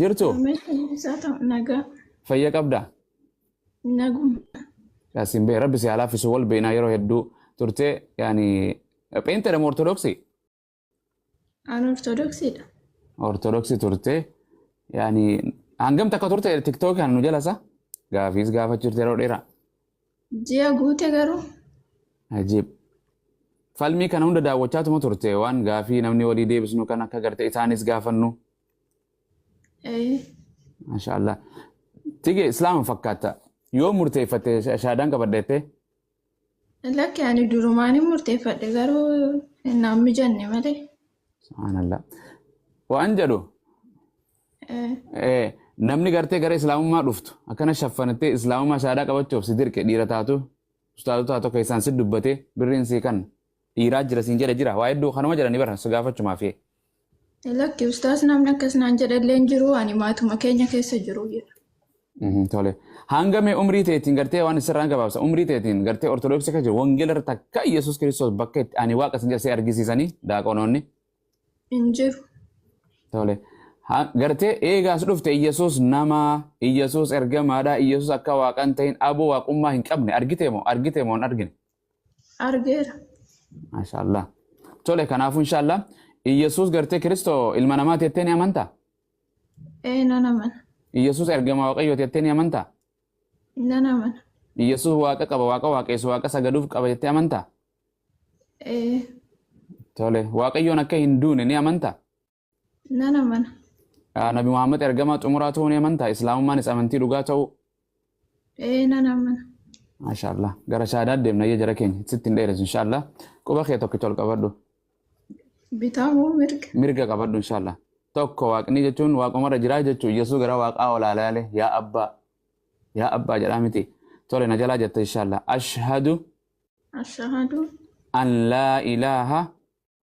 Jirtu? Ameen isaa ta'u nagaa Fayya qabdaa? naguma. Yaasin bee rabbi si haa laaffisu wal beenaa yeroo hedduu turtee yaani pheenxedha moo ortodoksii? An ortodoksiidha. Ortodoksii turtee yaani hangam takka turte tiktookii kan nu jalasa gaafiis gaafachiifte yeroo dheeraa. Ji'a guute garuu Ajiib. Falmii kana hunda daawwachaatuma turte waan gaafii namni walii deebisnu kan akka garte isaanis gaafannu Ee. Masha Allah. Tige Islaama fakkaata. Yoo murteeffatte shaadaan qabadha jettee? Lakki ani durumaan hin murteeffadhe garuu naan mijanne malee. Subhaanallah. Waan jedhu Ee. eh, namni gartee gara Islaamummaa dhuftu akkana shaffanattee Islaamummaa shaadaa qabachuuf si dirqe dhiira taatu ustaazota tokko isaan si dubbate birriin sii kan dhiiraa jira siin jedhe jira waa hedduu kanuma jedhani bara si gaafachumaafii. Lakki ustaas namni akkas naan jedhallee hin jiru ani maatuma keenya keessa jiru jedha. Mhm, Tole. Hanga mee umrii teetiin gartee waan sirraan gabaabsa. Umrii teetiin gartee ortodoksii kan jiru wangeela irratti akka Yesuus Kiristoos bakka itti ani waaqa isin jedhasee argisiisanii daaqonoonni. Hin jiru. Tole. Ha- Gartee eegaas dhufte Yesuus nama, Yesuus ergamaadha, Yesuus akka waaqan ta'in aboo waaqummaa hin qabne argite moo argite moo hin argine? Argeera. Maashaallah. Tole kanaafuu inshaallah Iyyasuus gartee Kiristoo ilma namaa teettee ni amantaa? Ee nan amana. Iyyasuus ergama Waaqayyoo teettee ni amantaa? Nan amana. Iyyasuus waaqa qaba, waaqa waaqeessu, waaqa sagaduuf qaba jettee amantaa? Ee Tole, Waaqayyoon akka hin duune ni amantaa? Nan amana. Ah, Nabi Muhammad ergamaa xumuraa ta'uu ni amantaa? Islaamummaanis amantii dhugaa ta'uu? Ee nan amana. Maashaallah. Gara shahaadaa deemna iyya jara keenya. Sitti hin dheeressu inshaallah. Quba kee tokkicha ol qabadhu. Bitaa moo mirga? Mirga qabadhu inshaallah. Tokko waaqni jechuun waaqumarra jiraa jechuu Yesuus gara waaqaa ol ilaale yaa abbaa yaa abbaa jedhaa miti. Tole na jalaa jette inshaallah. Ashhadu Ashahadu an laa ilaaha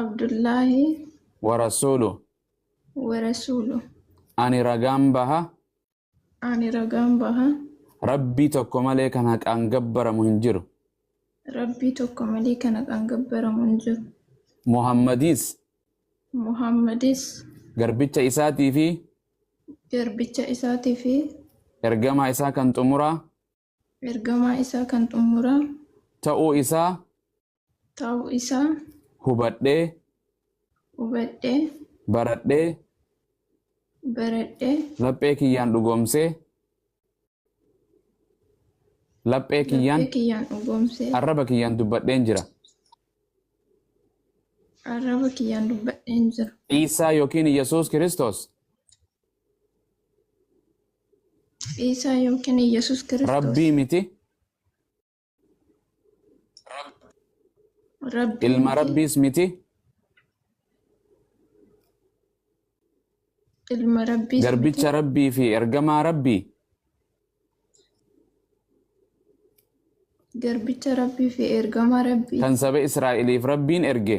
Abdullaahi ورسوله warasuulu ani ragaan baha ani ragaan baha rabbii tokko malee kan haqaan gabbaramu hin jiru rabbii tokko malee kan haqaan gabbaramu hin jiru muhammadiis muhammadis garbicha isaatii fi garbicha isaatii fi ergamaa isaa kan xumuraa Ergamaa isaa kan xumuraa. ta'uu isaa. ta'uu isaa. hubadhee. hubadhee. baradhee. baradhee. laphee kiyyaan dhugoomsee. laphee kiyyaan. laphee kiyyaan dhugoomsee. arraba kiyyaan dubbadheen jira. arraba kiyyaan dubbadheen jira. Iisaa yookiin Yesuus Kiristoos. Iisaa yookiin Yesus Kiristoos. Rabbii miti. Rabbii Ilma miti. Rabbiis miti. Ilma Rabbiis miti. Garbicha Rabbii fi ergamaa Rabbii. Garbicha Rabbii fi ergamaa Rabbii. Kan saba Israa'eliif Rabbiin erge.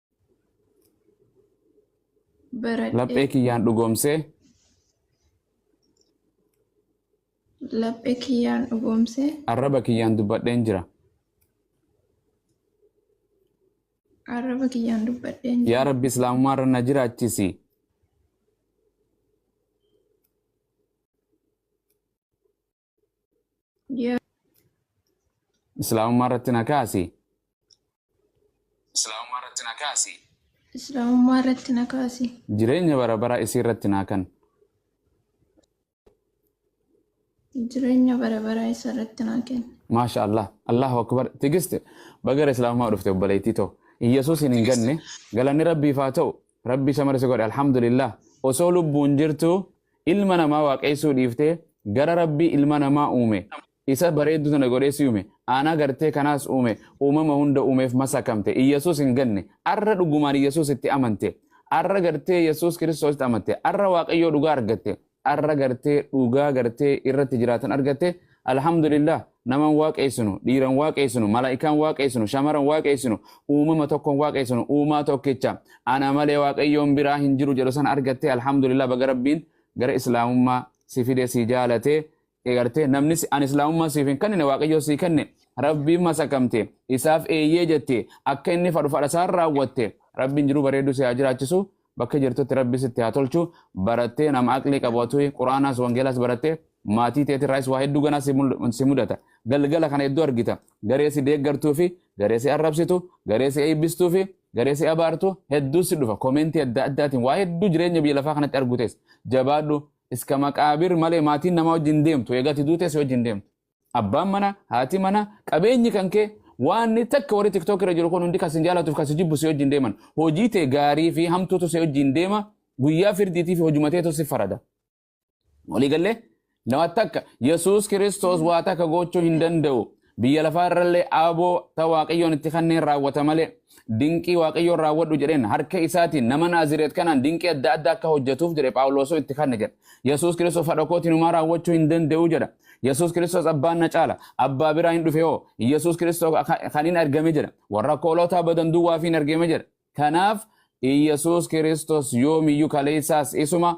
Baradhee. Laphee kiyyaan dhugoomsee. Laphee kiyyaan dhugoomsee. Arraba kiyyaan dubbadheen jira. Arraba kiyyaan dubbadheen jira. Yaa Rabbi Islaamummaa irra na jiraachisi. Yaa islaamummaa irratti na kaasi islaamummaa irratti na kaasi Islaamummaa irratti na kaasi. jireenya bara baraa isii irratti naa kan Jireenya bara baraa isa irratti naa kenna. maasha allah allahu akbar tigist bagara islaamummaa dhufte obboleettii too iyyasuus hin ganne galanni rabbiif haa ta'u Rabbi isa mara si godhe alhamdulillah osoo lubbuun jirtuu ilma namaa waaqeessuu dhiiftee gara rabbii ilma namaa uume isa bareedduu tana godhee si uume aanaa gartee kanaas uume uumama hunda uumeef masakamte iyyasuus hin ganne arra dhugumaan iyyasuus itti amante arra gartee iyyasuus kiristoositti amante arra waaqayyoo dhugaa argatte arra garte dhugaa garte irratti jiraatan argatte alhamdulillah naman waaqeessinu dhiiran waaqeessinu malaa'ikaan waaqeessinu shamaran waaqeessinu uumama tokkon waaqeessinu uumaa tokkicha ana malee waaqayyoon biraa hin jiru jedhu san argatte alhamdulillah baga rabbiin gara islaamummaa si fide si jaalate Eegartee namni si- ani islaamummaa siif hin kennine waaqayyoo sii kenne rabbiin masakamte isaaf eeyyee jette akka inni fadhu fadha isaan raawwatte rabbiin jiruu bareedduu si haa jiraachisu bakka jirtutti rabbi sitti haa tolchu barattee nama aqlii qabatu quraanaas wangeelaas barattee maatii teetirraayis waa hedduu ganaa si mul- si mudata galgala kana hedduu argita garee si deeggartuu fi garee si arrabsitu garee si eebbistuu fi garee si abaartu hedduu si dhufa koomeentii adda addaatiin waa hedduu jireenya biyya lafaa kanatti argutes jabaadhu Iska maqaabir malee maatiin namaa wajjin hin deemtu. Eega ati duutee si wajjin hin deemtu. Abbaan mana, haati mana, qabeenyi kan kee waanni takka warri TikTok irra jiru kun hundi kan sin jaalatuuf kan si jibbu si wajjin deeman. Hojii tee gaarii fi hamtuutu si wajjin deema. Guyyaa firdiitii fi hojuma teetu si farada. Walii gallee? Nama takka Yesuus Kiristoos waa takka gochuu hin danda'u. Biyya lafaa irrallee aaboo ta Waaqayyoon itti kanneen raawwata malee dinqii Waaqayyoon raawwadhu jedheen harka isaatiin nama Naazireet kanaan dinqii adda addaa akka hojjetuuf jedhe Phaawulosoo itti kanne jedha. Yesuus Kiristoos fadha kootiin homaa raawwachuu hin danda'u jedha. Yesuus Kiristoos abbaan na caala. Abbaa biraa hin dhufe hoo. Yesuus Kiristoos kan hin argame jedha. Warra akka hoolotaa badan duwwaa fi hin argame jedha. Kanaaf Yesuus Kiristoos yoomiyyuu kaleessaas isuma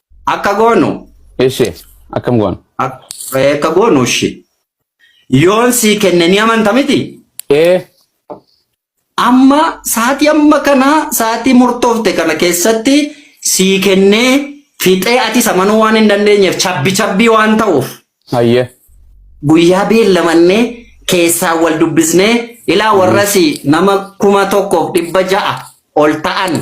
Akka goonu. Ishee akkam goona? Akka goonu ishee. Yoon sii kenne ni amanta miti? Ee. Amma sa'aatii amma kana sa'aatii murtoofte kana keessatti sii kennee fixee atis amanuu waan hin dandeenyeef cabbi cabbii waan ta'uuf. Hayyee. Guyyaa beellamannee keessaa wal dubbisnee ilaa warrasi nama kuma tokkoof dhibba ja'a ol ta'an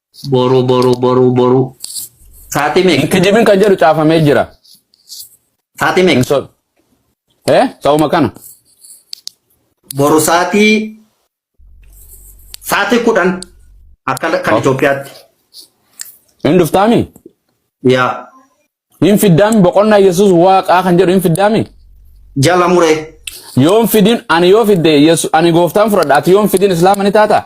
Boru boru boru boru. Sa'aatii meeqa? Kijibin kan jedhu caafamee jira. Sa'aatii meeqa? So, eh, ta'uma kana. Boru sa'aatii sa'aatii kudhan akka kan Itoophiyaatti. Hin dhuftaami? Yaa Hin fiddaami boqonnaa Yesuus waaqaa kan jedhu hin fiddaami? jala muree. Yoon fidin ani yoo fidde Yesu- ani gooftaan fudhadha ati yoon fidin islaama ni taata?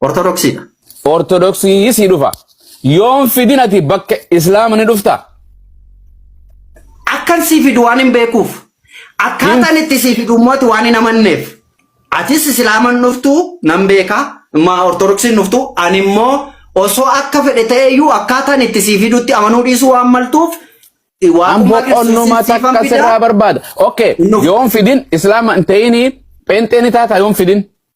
Ortodoksii dha. Ortodoksii sii dhufa. Yoon fidin ati bakka Islaama ni dhufta. Akkan sii fidu waan hin beekuuf. Hin Akkaataan itti sii fidu immoo ati waan hin amanneef. Atis Islaaman dhuftu nan beeka. Maa Ortodoksiin dhuftu ani immoo osoo akka fedhe ta'eyyuu akkaataan itti sii fidutti amanuu dhiisuu waan maltuuf an waaqummaa Kiristoosiin boqonnuma siifan takka fida sirraa barbaada. Okay, hin dhufu. yoon fidin Islaama hin ta'ini pheenxee ni taata yoon fidin.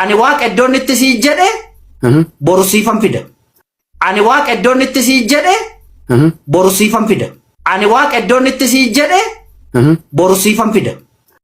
Ani waaqa iddoon itti sii jedhe boru siifan fida. Ani waaqa iddoon itti sii jedhe boru siifan fida. Ani waaqa iddoon itti sii jedhe boru siifan fida.